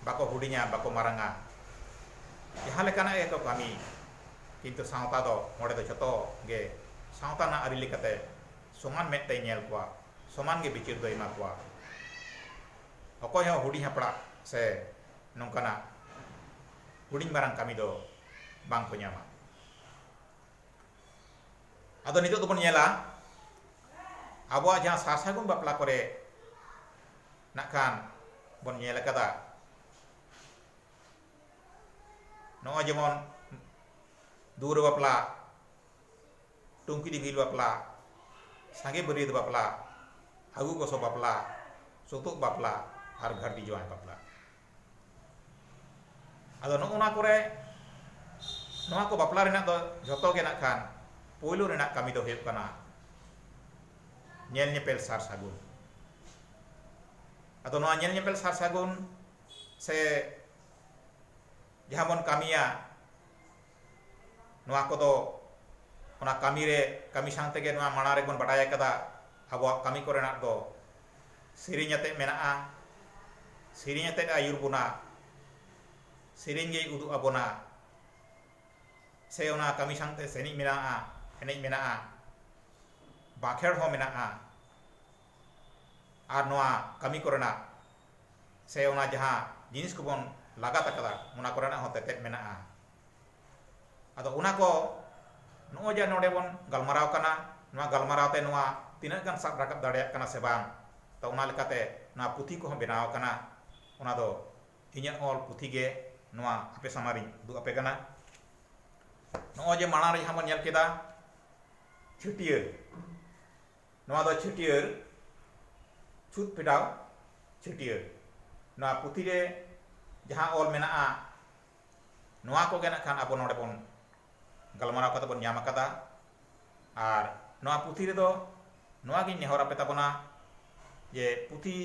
S1: ᱵᱟᱠᱚ ᱦᱩᱰᱤᱧᱟ ᱵᱟᱠᱚ ᱢᱟᱨᱟᱝᱟ ᱡᱟᱦᱟᱸ ᱞᱮᱠᱟᱱᱟᱜ ᱜᱮ ᱠᱚ ᱠᱟᱹᱢᱤ ᱠᱤᱱᱛᱩ ᱥᱟᱶᱛᱟ ᱫᱚ ᱱᱚᱰᱮ ᱫᱚ ᱡᱚᱛᱚ ᱜᱮ ᱥᱟᱶᱛᱟ ᱨᱮᱱᱟᱜ ᱟᱹᱨᱤ ᱞᱮᱠᱟᱛᱮ ᱥᱚᱢᱟᱱ ᱢᱮᱫ ᱛᱮᱭ ᱧᱮᱞ ᱠᱚᱣᱟ ᱥᱚᱢᱟᱱ ᱜᱮ ᱵᱤᱪᱟᱹᱨ ᱫᱚᱭ ᱮᱢᱟ ᱠᱚᱣᱟ ᱚᱠᱚᱭ ᱦᱚᱸ ᱦᱩᱰᱤᱧ ᱦᱟᱯᱲᱟᱜ ᱥᱮ ᱱᱚᱝᱠᱟᱱᱟᱜ ᱦᱩᱰᱤᱧ ᱢᱟᱨᱟᱝ ᱠᱟᱹᱢᱤ ᱫᱚ ᱵᱟᱝ ᱠᱚ ᱧᱟᱢᱟ ᱟᱫᱚ ᱱᱤᱛᱚᱜ ᱫᱚᱵᱚᱱ ᱧᱮᱞᱟ ᱟᱵᱚᱣᱟᱜ ᱡᱟᱦᱟᱸ ᱥᱟᱨ ᱥᱟᱹᱜᱩᱱ ᱵᱟᱯᱞᱟ ᱠᱚᱨᱮ ᱱᱟᱜ ᱠᱷᱟᱱ ᱵᱚᱱ ᱧᱮᱞ ᱟᱠᱟᱫᱟ ᱱᱚᱜᱼᱚᱭ ᱡᱮᱢᱚᱱ ᱫᱩᱣᱟᱹᱨ ᱵᱟᱯᱞᱟ ᱴᱩᱝᱠᱤ ᱫᱤᱯᱤᱞ ᱵᱟᱯᱞᱟ ᱥᱟᱸᱜᱮ ᱵᱟᱹᱨᱭᱟᱹᱛ ᱵᱟᱯᱞᱟ ᱟᱹᱜᱩ ᱜᱚᱥᱚ ᱵᱟᱯᱞᱟ ᱥᱩᱛᱩᱜ ᱵᱟᱯᱞᱟ ᱟᱨ ᱜᱷᱟᱹᱨᱫᱤ ᱡᱟᱶᱟᱭ ᱵᱟᱯᱞᱟ ᱟᱫᱚ ᱱᱚᱜᱼᱚ ᱱᱚᱣᱟ ᱠᱚᱨᱮ ᱱᱚᱣᱟ ᱠᱚ ᱵᱟᱯᱞᱟ ᱨᱮᱱᱟᱜ ᱫᱚ ᱡᱷᱚᱛᱚ ᱜᱮ ᱱᱟᱜ ᱠᱷᱟᱱ ᱯᱳᱭᱞᱳ ᱨᱮᱱᱟᱜ ᱠᱟᱹᱢᱤ ᱫᱚ ᱦᱩᱭᱩᱜ ᱠᱟᱱᱟ ᱧᱮᱞ ᱧᱮᱯᱮᱞ ᱥᱟᱨ ᱥᱟᱹᱜᱩᱱ ᱟᱫᱚ ᱱᱚᱣᱟ ᱧᱮᱞ ᱧᱮᱯᱮᱞ ᱥᱟᱨ ᱥᱟᱹᱜᱩᱱ ᱥᱮ ᱡᱟᱦᱟᱸ ᱵᱚᱱ ᱠᱟᱹᱢᱤᱭᱟ ᱱᱚᱣᱟ ᱠᱚᱫᱚ ᱚᱱᱟ ᱠᱟᱹᱢᱤ ᱨᱮ ᱠᱟᱹᱢᱤ ᱥᱟᱶ ᱛᱮᱜᱮ ᱱᱚᱣᱟ ᱢᱟᱲᱟᱝ ᱨᱮᱵᱚᱱ ᱵᱟᱰᱟᱭ ᱟᱠᱟᱫᱟ ᱟᱵᱚᱣᱟᱜ ᱠᱟᱹᱢᱤ ᱠᱚᱨᱮᱱᱟᱜ ᱫᱚ ᱥᱮᱨᱮᱧ ᱟᱛᱮᱫ ᱢᱮᱱᱟᱜᱼᱟ ᱥᱮᱨᱮᱧ ᱟᱛᱮᱫ ᱟᱹᱭᱩᱨ ᱵᱚᱱᱟ ᱥᱮᱨᱮᱧ ᱜᱮᱭ ᱩᱫᱩᱜ ᱟᱵᱚᱱᱟ ᱥᱮ ᱚᱱᱟ ᱠᱟᱹᱢᱤ ᱥᱟᱶ ᱛᱮ ᱥᱮᱨᱮᱧ ᱢᱮᱱᱟᱜᱼᱟ ᱮᱱᱮᱡ ᱢᱮᱱᱟᱜᱼᱟ ᱵᱟᱸᱠᱷᱮᱲ ᱦᱚᱸ ᱢᱮᱱᱟᱜᱼᱟ ᱟᱨ ᱱᱚᱣᱟ ᱠᱟᱹᱢᱤ ᱠᱚᱨᱮᱱᱟᱜ ᱥᱮ ᱚᱱᱟ ᱡᱟᱦᱟᱸ ᱡᱤᱱᱤᱥ ᱠᱚᱵᱚᱱ ᱞᱟᱜᱟᱛ ᱟᱠᱟᱫᱟ ᱚᱱᱟ ᱠᱚᱨᱮᱱᱟᱜ ᱦᱚᱸ ᱛᱮᱛᱮᱫ ᱢᱮᱱᱟᱜᱼᱟ ᱟᱫᱚ ᱚᱱᱟ ᱠᱚ ᱱᱚᱜᱼᱚᱭ ᱡᱮ ᱱᱚᱰᱮ ᱵᱚᱱ ᱜᱟᱞᱢᱟᱨᱟᱣ ᱠᱟᱱᱟ ᱱᱚᱣᱟ ᱜᱟᱞᱢᱟᱨᱟᱣ ᱛᱮ ᱱᱚᱣᱟ ᱛᱤᱱᱟᱹᱜ ᱜᱟᱱ ᱥᱟᱵ ᱨᱟᱠᱟᱵ ᱫᱟᱲᱮᱭᱟᱜ ᱠᱟᱱᱟ ᱥᱮ ᱵᱟᱝ ᱛᱚ ᱚᱱᱟ ᱞᱮᱠᱟᱛᱮ ᱱᱚᱣᱟ ᱯᱩᱛᱷᱤ ᱠᱚᱦᱚᱸ ᱵᱮᱱᱟᱣ ᱟᱠᱟᱱᱟ ᱚᱱᱟ ᱫᱚ ᱤᱧᱟᱹᱜ ᱚᱞ ᱯᱩᱛᱷᱤ ᱜᱮ ᱱᱚᱣᱟ ᱟᱯᱮ ᱥᱟᱢᱟᱝ ᱨᱤᱧ ᱩᱫᱩᱜ ᱟᱯᱮ ᱠᱟᱱᱟ ᱱᱚᱜᱼᱚᱭ ᱡᱮ ᱢᱟᱲᱟᱝ ᱨᱮ ᱡᱟᱦᱟᱸ ᱵᱚᱱ ᱧᱮᱞ ᱠᱮᱫᱟ ᱪᱷᱟᱹᱴᱭᱟᱹᱨ ᱱᱚᱣᱟ ᱫᱚ ᱪᱷᱟᱹᱴᱭᱟᱹᱨ ᱪᱷᱩᱛ ᱯᱷᱮᱰᱟᱣ ᱪᱷᱟᱹᱴᱭᱟᱹᱨ ᱱᱚᱣᱟ ᱯᱩᱛᱷᱤ ᱨᱮ ᱡᱟᱦᱟᱸ ᱚᱞ ᱢᱮᱱᱟᱜᱼᱟ ᱱᱚᱣᱟ ᱠᱚᱜᱮ ᱱᱟᱜ ᱠᱷᱟᱱ ᱟᱵᱚ ᱱᱚᱰᱮ ᱵᱚᱱ ᱜᱟᱞᱢᱟᱨᱟᱣ ᱠᱟᱛᱮ ᱵᱚᱱ ᱧᱟᱢ ᱟᱠᱟᱫᱟ ᱟᱨ ᱱᱚᱣᱟ ᱯᱩᱛᱷᱤ ᱨᱮᱫᱚ ᱱᱚᱣᱟ ᱜᱤᱧ ᱱᱮᱦᱚᱨ ᱟᱯᱮ ᱛᱟᱵᱚᱱᱟ ᱡᱮ ᱯᱩᱛᱷᱤ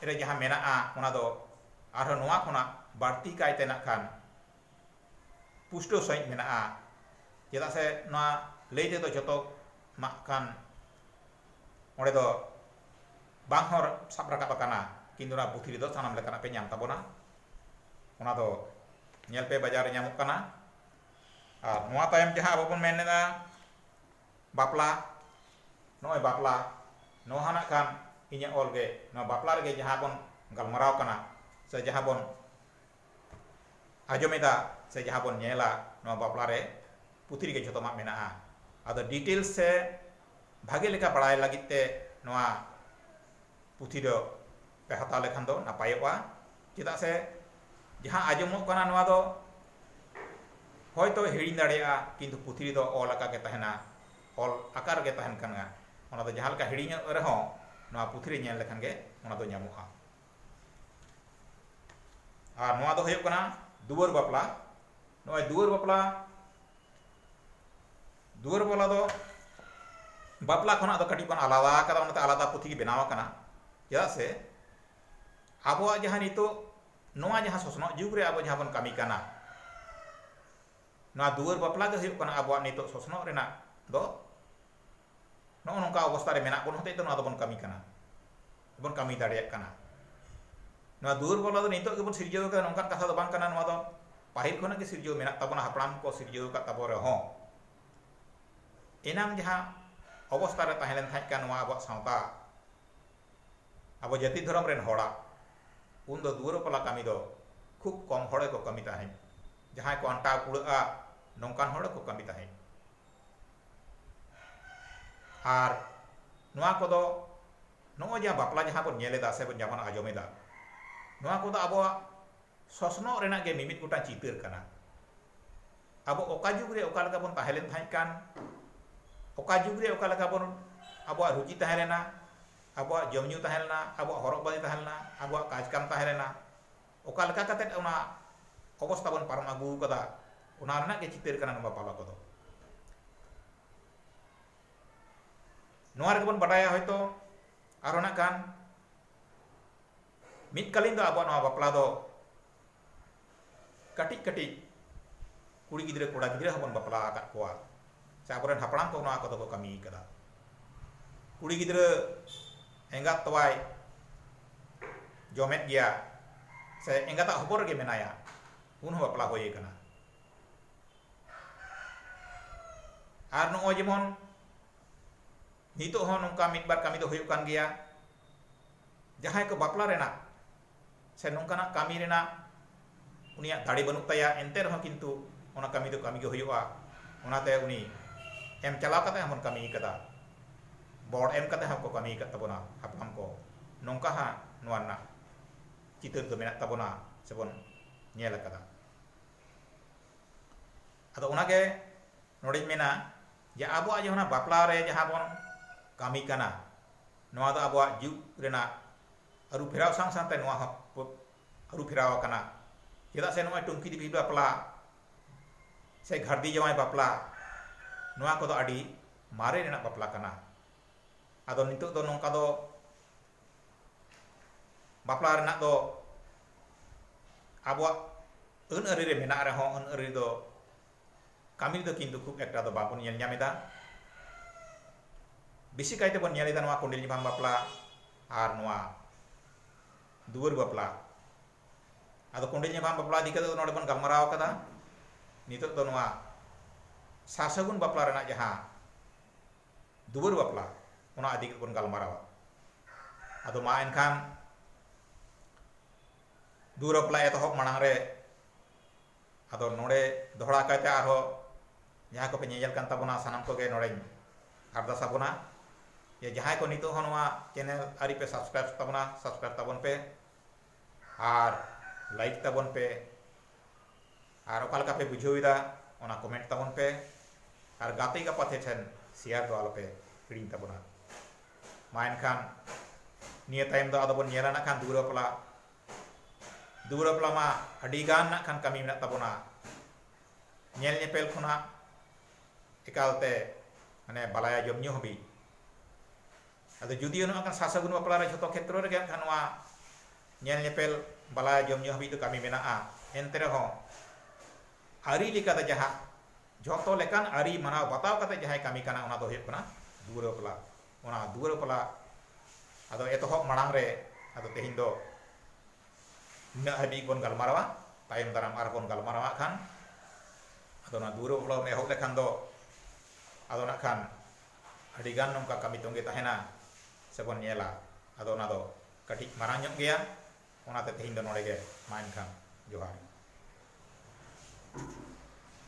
S1: ᱨᱮ ᱡᱟᱦᱟᱸ ᱢᱮᱱᱟᱜᱼᱟ ᱚᱱᱟ ᱫᱚ ᱟᱨᱦᱚᱸ ᱱᱚᱣᱟ ᱠᱷᱚᱱᱟᱜ ᱵᱟᱹᱲᱛᱤ ᱠᱟᱭᱛᱮ ᱱᱟᱜ ᱠᱷᱟᱱ ᱯᱩᱥᱴᱟᱹᱣ ᱥᱟᱺᱦᱤᱡ ᱢᱮᱱᱟᱜᱼᱟ ᱪᱮᱫᱟᱜ ᱥᱮ ᱱᱚᱣᱟ ᱞᱟᱹᱭ ᱛᱮᱫᱚ ᱡᱚᱛᱚ ᱱᱟᱜ ᱠᱷᱟᱱ ᱚᱸᱰᱮ ᱫᱚ ᱵᱟᱝ ᱦᱚᱸ ᱥᱟᱵ ᱨᱟᱠᱟᱵ ᱟᱠᱟᱱᱟ ᱠᱤᱱᱛᱩ ᱱᱚᱣᱟ ᱯᱩᱛᱷᱤ ᱨᱮᱫᱚ ᱥᱟᱱᱟᱢ ᱞᱮᱠᱟᱱᱟᱜ ᱯᱮ ᱧᱟᱢ ᱛᱟᱵᱚᱱᱟ ᱚᱱᱟ ᱫᱚ ᱧᱮᱞ ᱯᱮ ᱵᱟᱡᱟᱨ ᱨᱮ ᱧᱟᱢᱚᱜ ᱠᱟᱱᱟ ᱟᱨ ᱱᱚᱣᱟ ᱛᱟᱭᱚᱢ ᱡᱟᱦᱟᱸ ᱟᱵᱚ ᱵᱚᱱ ᱢᱮᱱ ᱮᱫᱟ ᱵᱟᱯᱞᱟ ᱱᱚᱜᱼᱚᱭ ᱵᱟᱯᱞᱟ ᱱᱚᱣᱟ ᱦᱚᱸ ᱱᱟᱜ ᱠᱷᱟᱱ ᱤᱧᱟᱹᱜ ᱚᱞ ᱜᱮ ᱱᱚᱣᱟ ᱵᱟᱯᱞᱟ ᱨᱮᱜᱮ ᱡᱟᱦᱟᱸ ᱵᱚᱱ ᱜᱟᱞᱢᱟᱨᱟᱣ ᱠᱟᱱᱟ ᱥᱮ ᱡᱟᱦᱟᱸ ᱵᱚᱱ ᱟᱸᱡᱚᱢᱮᱫᱟ ᱥᱮ ᱡᱟᱦᱟᱸ ᱵᱚᱱ ᱧᱮᱞᱟ ᱱᱚᱣᱟ ᱵᱟᱯᱞᱟ ᱨᱮ ᱯᱩᱛᱷᱤ ᱨᱮᱜᱮ ᱡᱷᱚᱛᱚᱢᱟᱜ ᱢᱮᱱᱟᱜᱼᱟ ᱟᱫᱚ ᱰᱤᱴᱮᱞ ᱥᱮ ᱵᱷᱟᱜᱮ ᱞᱮᱠᱟ ᱵᱟᱲᱟᱭ ᱞᱟᱹᱜᱤᱫ ᱛᱮ ᱱᱚᱣᱟ ᱯᱩᱛᱷᱤ ᱫᱚ ᱯᱮ ᱦᱟᱛᱟᱣ ᱞᱮᱠᱷᱟᱱ ᱫᱚ ᱱᱟᱯᱟᱭᱚᱜᱼᱟ ᱪᱮᱫᱟᱜ ᱥᱮ ᱡᱟᱦᱟᱸ ᱟᱸᱡᱚᱢᱚᱜ ᱠᱟᱱᱟ ᱱᱚᱣᱟ ᱫᱚ ᱦᱚᱭᱛᱚ ᱦᱤᱲᱤᱧ ᱫᱟᱲᱮᱭᱟᱜᱼᱟ ᱠᱤᱱᱛᱩ ᱯᱩᱛᱷᱤ ᱨᱮᱫᱚ ᱚᱞ ᱟᱠᱟ ᱜᱮ ᱛᱟᱦᱮᱱᱟ ᱚᱞ ᱟᱠᱟ ᱨᱮᱜᱮ ᱛᱟᱦᱮᱱ ᱠᱟᱱᱟ ᱚᱱᱟ ᱫᱚ ᱡᱟᱦᱟᱸ ᱞᱮᱠᱟ ᱦᱤᱲᱤᱧᱚᱜ ᱨᱮᱦᱚᱸ ᱱᱚᱣᱟ ᱯᱩᱛᱷᱤ ᱨᱮ ᱧᱮᱞ ᱞᱮᱠᱷᱟᱱ ᱜᱮ ᱚᱱᱟ ᱫᱚ ᱧᱟᱢᱚᱜᱼᱟ ᱟᱨ ᱱᱚᱣᱟ ᱫᱚ ᱦᱩᱭᱩᱜ ᱠᱟᱱᱟ ᱫᱩᱣᱟᱹᱨ ᱵᱟᱯᱞᱟ ᱱᱚᱜᱼᱚᱭ ᱫᱩᱣᱟᱹᱨ ᱵᱟᱯᱞᱟ ᱫᱩᱣᱟᱹᱨ ᱵᱟᱯᱞᱟ ᱫᱚ ᱵᱟᱯᱞᱟ ᱠᱷᱚᱱᱟᱜ ᱫᱚ ᱠᱟᱹᱴᱤᱡ ᱵᱚᱱ ᱟᱞᱟᱫᱟ ᱟᱠᱟᱫᱟ ᱚᱱᱟᱛᱮ ᱟᱞᱟᱫᱟ ᱯᱩᱛᱷᱤ ᱜᱮ ᱵᱮᱱᱟᱣ ᱟᱠᱟᱱᱟ ᱪᱮᱫᱟᱜ ᱥᱮ ᱟᱵᱚᱣᱟᱜ ᱡᱟᱦᱟᱸ ᱱᱤᱛᱚᱜ ᱱᱚᱣᱟ ᱡᱟᱦᱟᱸ ᱥᱚᱥᱱᱚᱜ ᱡᱩᱜᱽ ᱨᱮ ᱟᱵᱚ ᱡᱟᱦᱟᱸ ᱵᱚᱱ ᱠᱟᱹᱢᱤ ᱠᱟᱱᱟ ᱱᱚᱣᱟ ᱫᱩᱣᱟᱹᱨ ᱵᱟᱯᱞᱟ ᱜᱮ ᱦᱩᱭᱩᱜ ᱠᱟᱱᱟ ᱟᱵᱚᱣᱟᱜ ᱱᱤᱛᱚᱜ ᱥᱚᱥᱱᱚᱜ ᱨᱮᱱᱟᱜ ᱫᱚ ᱱᱚᱜᱼᱚ ᱱᱚᱝᱠᱟ ᱚᱵᱚᱥᱛᱟ ᱨᱮ ᱢᱮᱱᱟᱜ ᱵᱚᱱ ᱦᱚᱛᱮᱡ ᱛᱮ ᱱᱚᱣᱟ ᱫᱚᱵᱚᱱ ᱠᱟᱹᱢᱤ ᱠᱟᱱᱟ ᱵᱚᱱ ᱠᱟᱹᱢᱤ ᱫᱟᱲᱮᱭᱟᱜ ᱠᱟᱱᱟ ᱱᱚᱣᱟ ᱫᱩᱣᱟᱹᱨ ᱵᱚᱞᱟ ᱫᱚ ᱱᱤᱛᱚᱜ ᱜᱮᱵᱚᱱ ᱥᱤᱨᱡᱟᱹᱣ ᱟᱠᱟᱫᱟ ᱱᱚᱝᱠᱟᱱ ᱠᱟᱛᱷᱟ ᱫᱚ ᱵᱟᱝ ᱠᱟᱱᱟ ᱱᱚᱣᱟ ᱫᱚ ᱯᱟᱹᱦᱤᱞ ᱠᱷᱚᱱᱟᱜ ᱜᱮ ᱥᱤᱨᱡᱟᱹᱣ ᱢᱮᱱᱟᱜ ᱛᱟᱵᱚᱱᱟ ᱦᱟᱯᱲᱟᱢ ᱠᱚ ᱥᱤᱨᱡᱟᱹᱣ ᱟᱠᱟᱫ ᱛᱟᱵᱚ ᱨᱮᱦᱚᱸ ᱮᱱᱟᱝ ᱡᱟᱦᱟᱸ ᱚᱵᱚᱥᱛᱟ ᱨᱮ ᱛᱟᱦᱮᱸ ᱞᱮᱱ ᱛᱟᱦᱮᱸ ᱠᱟᱱ ᱱᱚᱣᱟ ᱟᱵᱚᱣᱟᱜ ᱥᱟᱶᱛᱟ ᱟᱵᱚ ᱡᱟᱹᱛᱤ ᱫᱷᱚᱨᱚᱢ ᱨᱮᱱ ᱦᱚᱲᱟᱜ ᱩᱱ ᱫᱚ ᱫᱩᱣᱟᱹᱨ ᱵᱚᱞᱟ ᱠᱟᱹᱢᱤ ᱫᱚ ᱠᱷᱩᱵ ᱠᱚᱢ ᱦᱚᱲ ᱜᱮᱠᱚ ᱠᱟᱹᱢᱤ ᱛᱟᱦᱮᱸᱫ ᱡᱟᱦᱟᱸᱭ ᱠᱚ ᱟᱱᱴᱟᱣ ᱠᱩᱲᱟᱹᱜᱼᱟ ᱱᱚᱝᱠᱟᱱ ᱦᱚᱲ ᱠᱚ ᱠᱟᱹᱢᱤ ᱛᱟᱦᱮᱸᱫ ᱟᱨ ᱱᱚᱣᱟ ᱠᱚᱫᱚ ᱱᱚᱜᱼᱚᱭ ᱡᱟᱦᱟᱸ ᱵᱟᱯᱞᱟ ᱡᱟᱦᱟᱸ ᱵᱚᱱ ᱧᱮᱞ ᱮᱫᱟ ᱥᱮ ᱵᱚᱱ ᱡᱟᱦᱟᱸ ᱵᱚᱱ ᱟᱸᱡᱚᱢ ᱮᱫᱟ ᱱᱚᱣᱟ ᱠᱚᱫᱚ ᱟᱵᱚᱣᱟᱜ ᱥᱚᱥᱱᱚᱜ ᱨᱮᱱᱟᱜ ᱜᱮ ᱢᱤᱢᱤᱫ ᱜᱚᱴᱟᱝ ᱪᱤᱛᱟᱹᱨ ᱠᱟᱱᱟ ᱟᱵᱚ ᱚᱠᱟ ᱡᱩᱜᱽ ᱨᱮ ᱚᱠᱟ ᱞᱮᱠᱟ ᱵᱚᱱ ᱛᱟᱦᱮᱸ ᱞᱮᱱ ᱛᱟᱦᱮᱸ ᱠᱟᱱ ᱚᱠᱟ ᱡᱩᱜᱽ ᱨᱮ ᱚᱠᱟ ᱞᱮᱠᱟ ᱵᱚᱱ ᱟᱵᱚᱣᱟᱜ ᱨᱩᱪᱤ ᱛᱟᱦᱮᱸ ᱞᱮᱱᱟ ᱟᱵᱚᱣᱟᱜ ᱡᱚᱢ ᱧᱩ ᱛᱟᱦᱮᱸ ᱞᱮᱱᱟ ᱟᱵᱚᱣᱟᱜ ᱦᱚᱨᱚᱜ ᱵᱟᱸᱫᱮ ᱛᱟᱦᱮᱸ ᱞᱮᱱᱟ ᱟᱵᱚᱣᱟᱜ ᱠᱟᱡᱽ ᱠᱟᱢ ᱛᱟᱦᱮᱸ ᱞᱮᱱᱟ ᱚᱠᱟ ᱞᱮᱠᱟ ᱠᱟᱛᱮ ᱚᱱᱟ ᱚᱵᱚᱥᱛᱟ ᱵᱚᱱ ᱯᱟᱨᱚᱢ ᱟᱹᱜᱩ ᱟᱠᱟᱫᱟ ᱚᱱᱟ ᱨᱮᱱᱟᱜ ᱜᱮ ᱪᱤᱛᱟᱹᱨ ᱠᱟᱱᱟ ᱱᱚᱣᱟ ᱵᱟᱯᱞᱟ ᱠᱚᱫᱚ ᱱᱚᱣᱟ ᱨᱮᱜᱮ ᱵᱚᱱ ᱵᱟᱰᱟᱭᱟ ᱦᱚᱭᱛᱚ ᱟᱨᱦᱚᱸ ᱱᱟᱜ ᱠᱷᱟᱱ ᱢᱤᱫ ᱠᱟᱞᱤᱱ ᱫᱚ ᱟᱵᱚᱣᱟᱜ ᱱᱚᱣᱟ ᱵᱟᱯᱞᱟ ᱫᱚ ᱠᱟᱹᱴᱤᱡ ᱠᱟᱹᱴᱤᱡ ᱠᱩᱲᱤ ᱜᱤᱫᱽᱨᱟᱹ ᱠᱚᱲᱟ ᱜᱤᱫᱽᱨᱟᱹ ᱦᱚᱸᱵᱚᱱ ᱵᱟᱯᱞᱟ ᱟᱠᱟᱫ ᱠᱚᱣᱟ ᱥᱮ ᱟᱵᱚᱨᱮᱱ ᱦᱟᱯᱲᱟᱢ ᱠᱚ ᱱᱚᱣᱟ ᱠᱚᱫᱚ ᱠᱚ ᱠᱟᱹᱢᱤ ᱟᱠᱟᱫᱟ ᱠᱩᱲᱤ ᱜᱤᱫᱽᱨᱟᱹ ᱮᱸᱜᱟᱛ ᱛᱚᱣᱟᱭ ᱡᱚᱢᱮᱫ ᱜᱮᱭᱟ ᱥᱮ ᱮᱸᱜᱟᱛᱟᱜ ᱦᱚᱵᱚᱨ ᱨᱮᱜᱮ ᱢᱮᱱᱟᱭᱟ ᱩᱱ ᱦᱚᱸ ᱵᱟᱯᱞᱟ ᱦᱩᱭ ᱟᱠᱟᱱᱟ ᱟᱨ ᱱᱚᱜᱼᱚᱭ ᱡᱮᱢᱚᱱ ᱱᱤᱛᱚᱜ ᱦᱚᱸ ᱱᱚᱝᱠᱟ ᱢᱤᱫ ᱵᱟᱨ ᱠᱟᱹᱢᱤ ᱫᱚ ᱦᱩᱭᱩᱜ ᱠᱟᱱ ᱜᱮᱭᱟ ᱡᱟᱦᱟᱸᱭ ᱠᱚ ᱵᱟᱯᱞᱟ ᱨᱮᱱᱟᱜ ᱥᱮ ᱱᱚᱝᱠᱟᱱᱟᱜ ᱠᱟᱹᱢᱤ ᱨᱮᱱᱟᱜ ᱩᱱᱤᱭᱟᱜ ᱫᱟᱲᱮ ᱵᱟᱹᱱᱩᱜ ᱛᱟᱭᱟ ᱮᱱᱛᱮ ᱨᱮᱦᱚᱸ ᱠᱤᱱᱛᱩ ᱚᱱᱟ ᱠᱟᱹᱢᱤ ᱫᱚ ᱠᱟᱹᱢᱤ ᱜᱮ ᱦᱩᱭᱩᱜᱼᱟ ᱚᱱᱟᱛᱮ ᱩᱱᱤ ᱮᱢ ᱪᱟᱞᱟᱣ ᱠᱟᱛᱮ ᱦᱚᱸᱵᱚᱱ ᱠᱟᱹᱢᱤ ᱠᱟᱫᱟ ᱵᱚᱲ ᱮᱢ ᱠᱟᱛᱮ ᱦᱚᱸᱠᱚ ᱠᱟᱹᱢᱤ ᱠᱟᱫ ᱛᱟᱵᱚᱱᱟ ᱦᱟᱯᱲᱟᱢ ᱠᱚ ᱱᱚᱝᱠᱟ ᱦᱟᱸᱜ ᱱᱚᱣᱟ ᱨᱮᱱᱟᱜ ᱪᱤᱛᱟᱹᱨ ᱫᱚ ᱢᱮᱱᱟᱜ ᱛᱟᱵᱚᱱᱟ ᱥᱮᱵᱚᱱ ᱧᱮᱞ ᱟᱠᱟᱫᱟ ᱟᱫᱚ ᱚᱱᱟᱜᱮ ᱱᱚᱰᱮᱧ ᱢᱮᱱᱟ ᱡᱮ ᱟᱵᱚᱣᱟᱜ ᱡᱟᱦᱟᱸ ᱵᱟᱯᱞᱟ ᱨᱮ ᱡᱟᱦᱟᱸ ᱵᱚᱱ ᱠᱟᱹᱢᱤ ᱠᱟᱱᱟ ᱱᱚᱣᱟ ᱫᱚ ᱟᱵᱚᱣᱟᱜ ᱡᱩᱜᱽ ᱨᱮᱱᱟᱜ ᱟᱹᱨᱩ ᱯᱷᱮᱨᱟᱣ ᱥᱟᱶ ᱥᱟᱶᱛᱮ ᱱᱚᱣᱟ ᱦᱚᱸ ᱟᱹᱨᱩ ᱯᱷᱮᱨᱟᱣ ᱟᱠᱟᱱᱟ ᱪᱮᱫᱟᱜ ᱥᱮ ᱱᱚᱜᱼᱚᱭ ᱴᱩᱝᱠᱤ ᱫᱤᱯᱤᱞ ᱵᱟᱯᱞᱟ ᱥᱮ ᱜᱷᱟᱹᱨᱫᱤ ᱡᱟᱶᱟᱭ ᱵᱟᱯᱞᱟ ᱱᱚᱣᱟ ᱠᱚᱫᱚ ᱟᱹᱰᱤ ᱢᱟᱨᱮ ᱨᱮᱱᱟᱜ ᱵᱟᱯᱞᱟ ᱠᱟᱱᱟ ᱟᱫᱚ ᱱᱤᱛᱚᱜ ᱫᱚ ᱱᱚᱝᱠᱟ ᱫᱚ ᱵᱟᱯᱞᱟ ᱨᱮᱱᱟᱜ ᱫᱚ ᱟᱵᱚᱣᱟᱜ ᱟᱹᱱ ᱟᱹᱨᱤ ᱨᱮ ᱢᱮᱱᱟᱜ ᱨᱮᱦᱚᱸ ᱟᱹᱱ ᱟᱹᱨᱤ ᱫᱚ ᱠᱟᱹᱢᱤ ᱨᱮᱫᱚ ᱠᱤᱱᱛᱩ ᱠᱷᱩᱵ ᱮᱠᱴᱟ ᱫᱚ ᱵᱟᱵᱚᱱ ᱧᱮᱞ ᱧᱟᱢ ᱮᱫᱟ ᱵᱮᱥᱤ ᱠᱟᱭ ᱛᱮᱵᱚᱱ ᱧᱮᱞ ᱮᱫᱟ ᱱᱚᱣᱟ ᱠᱚᱸᱰᱮᱞ ᱧᱟᱯᱟᱢ ᱵᱟᱯᱞᱟ ᱟᱨ ᱱᱚᱣᱟ ᱫᱩᱣᱟᱹᱨ ᱵᱟᱯᱞᱟ ᱟᱫᱚ ᱠᱚᱸᱰᱮᱞ ᱧᱟᱯᱟᱢ ᱵᱟᱯᱞᱟ ᱤᱫᱤ ᱠᱟᱛᱮ ᱱᱚᱰᱮ ᱵᱚᱱ ᱜᱟᱞᱢᱟᱨᱟᱣ ᱟᱠᱟᱫᱟ ᱱᱤᱛᱚᱜ ᱫᱚ ᱱᱚᱣᱟ ᱥᱟᱥᱟᱜᱩᱱ ᱵᱟᱯᱞᱟ ᱨᱮᱱᱟᱜ ᱡᱟᱦᱟᱸ ᱫᱩᱣᱟᱹᱨ ᱵᱟᱯᱞᱟ ᱚᱱᱟ ᱤᱫᱤ ᱠᱟᱛᱮ ᱵᱚᱱ ᱜᱟᱞᱢᱟᱨᱟᱣᱟ ᱟᱫᱚ ᱢᱟ ᱮᱱᱠᱷᱟᱱ ᱫᱩᱣᱟᱹᱨ ᱵᱟᱯᱞᱟ ᱮᱛᱚᱦᱚᱵ ᱢᱟᱲᱟᱝ ᱨᱮ ᱟᱫᱚ ᱱᱚᱰᱮ ᱫᱚᱦᱲᱟ ᱠᱟᱭᱛᱮ ᱟᱨᱦᱚᱸ ᱡᱟᱦᱟᱸᱭ ᱠᱚᱯᱮ ᱧᱮᱧᱮᱞ ᱠᱟᱱ ᱛᱟᱵᱚᱱᱟ ᱥᱟᱱᱟᱢ ᱠᱚᱜᱮ ᱱᱚᱰᱮᱧ ᱟᱨᱫᱟᱥ ᱟᱵᱚᱱᱟ ᱡᱮ ᱡᱟᱦᱟᱸᱭ ᱠᱚ ᱱᱤᱛᱚᱜ ᱦᱚᱸ ᱱᱚᱣᱟ ᱪᱮᱱᱮᱞ ᱟᱹᱣᱨᱤ ᱯᱮ ᱥᱟᱵᱥᱠᱨᱟᱭᱤᱵ ᱛᱟᱵᱚᱱᱟ ᱥᱟᱵᱥᱠᱨᱟᱭᱤᱵ ᱛᱟᱵᱚᱱ ᱯᱮ ᱟᱨ ᱞᱟᱭᱤᱠ ᱛᱟᱵᱚᱱ ᱯᱮ ᱟᱨ ᱚᱠᱟ ᱞᱮᱠᱟ ᱯᱮ ᱵᱩᱡᱷᱟᱹᱣ ᱮᱫᱟ ᱚᱱᱟ ᱠᱚᱢᱮᱱᱴ ᱛᱟᱵᱚᱱ ᱯᱮ ᱟᱨ ᱜᱟᱛᱮ ᱜᱟᱯᱟᱛᱮ ᱴᱷᱮᱱ ᱥᱮᱭᱟᱨ ᱫᱚ ᱟᱞᱚᱯᱮ ᱦᱤᱲᱤᱧ ᱛᱟᱵᱚᱱᱟ ᱢᱟ ᱮᱱᱠᱷᱟᱱ ᱱᱤᱭᱟᱹ ᱛᱟᱭᱚᱢ ᱫᱚ ᱟᱫᱚ ᱵᱚᱱ ᱧᱮᱞᱟ ᱱᱟᱜ ᱠᱷᱟᱱ ᱫᱩᱣᱟᱹᱨ ᱵᱟᱯᱞᱟ ᱫᱩᱣᱟᱹᱨ ᱵᱟᱯᱞᱟ ᱢᱟ ᱟᱹᱰᱤ ᱜᱟᱱ ᱱᱟᱜ ᱠᱷᱟᱱ ᱠᱟᱹᱢᱤ ᱢᱮᱱᱟᱜ ᱛᱟᱵᱚᱱᱟ ᱧᱮᱞ ᱧᱮᱯᱮᱞ ᱠᱷᱚᱱᱟᱜ ᱮᱠᱟᱞᱛᱮ ᱢᱟᱱᱮ ᱵᱟᱞᱟᱭᱟ ᱡᱚᱢ ᱧᱩ ᱦᱟᱹᱵᱤᱡ ᱟᱫᱚ ᱡᱩᱫᱤ ᱱᱚᱣᱟ ᱠᱟᱱ ᱥᱟᱥᱟᱜᱩᱱ ᱵᱟᱯᱞᱟ ᱨᱮ ᱡᱷᱚᱛᱚ ᱠᱷᱮᱛᱨᱚ ᱨᱮᱜᱮ ᱱᱟᱜ ᱠᱷᱟᱱ ᱱᱚᱣᱟ ᱧᱮᱞ ᱧᱮᱯᱮᱞ ᱵᱟᱞᱟᱭᱟ ᱡᱚᱢ ᱧᱩ ᱦᱟᱹᱵᱤᱡ ᱫᱚ ᱠᱟᱹᱢᱤ ᱢᱮᱱᱟᱜᱼᱟ ᱮᱱᱛᱮ ᱨᱮᱦᱚᱸ ᱟᱹᱨᱤ ᱞᱮᱠᱟᱛᱮ ᱡᱟᱦᱟᱸ ᱡᱷᱚᱛᱚ ᱞᱮᱠᱟᱱ ᱟᱹᱨᱤ ᱢᱟᱱᱟᱣ ᱵᱟᱛᱟᱣ ᱠᱟᱛᱮ ᱡᱟᱦᱟᱸᱭ ᱠᱟᱹᱢᱤ ᱠᱟᱱᱟ ᱚᱱᱟ ᱫᱚ ᱦᱩᱭᱩᱜ ᱠᱟᱱᱟ ᱫᱩᱣᱟᱹᱨ ᱵᱟᱯᱞᱟ ᱚᱱᱟ ᱫᱩᱣᱟᱹᱨ ᱵᱟᱯᱞᱟ ᱟᱫᱚ ᱮᱛᱚᱦᱚᱵ ᱢᱟᱲᱟᱝ ᱨᱮ ᱟᱫᱚ ᱛᱮᱦᱮᱧ ᱫᱚ ᱱᱤᱱᱟᱹᱜ ᱦᱟᱹᱵᱤᱡ ᱵᱚᱱ ᱜᱟᱞᱢᱟᱨᱟᱣᱟ ᱛᱟᱭᱚᱢ ᱫᱟᱨᱟᱢ ᱟᱨᱦᱚᱸ ᱵᱚᱱ ᱜᱟᱞᱢᱟᱨᱟᱣᱟ ᱠᱷᱟᱱ ᱟᱫᱚ ᱚᱱᱟ ᱫᱩᱣᱟᱹᱨ ᱵᱟᱯᱞᱟ ᱵᱚᱱ ᱮᱦᱚᱵ ᱞᱮᱠᱷᱟᱱ ᱫᱚ ᱟᱫᱚ ᱱᱟᱜ ᱠᱷᱟᱱ ᱟᱹᱰᱤ ᱜᱟᱱ ᱱᱚᱝᱠᱟ ᱠᱟᱹᱢᱤ ᱛᱚᱸᱜᱮ ᱛᱟᱦᱮᱱᱟ ᱥᱮᱵᱚᱱ ᱧᱮᱞᱟ ᱟᱫᱚ ᱚᱱᱟ ᱫᱚ ᱠᱟᱹᱴᱤᱡ ᱢᱟᱨᱟᱝ ᱧᱚᱜ ᱜᱮᱭᱟ ᱚᱱᱟᱛᱮ ᱛᱮᱦᱮᱧ ᱫᱚ ᱱᱚᱰᱮ ᱜᱮ ᱢᱟ ᱮᱱᱠᱷᱟᱱ ᱡᱚᱦᱟᱨ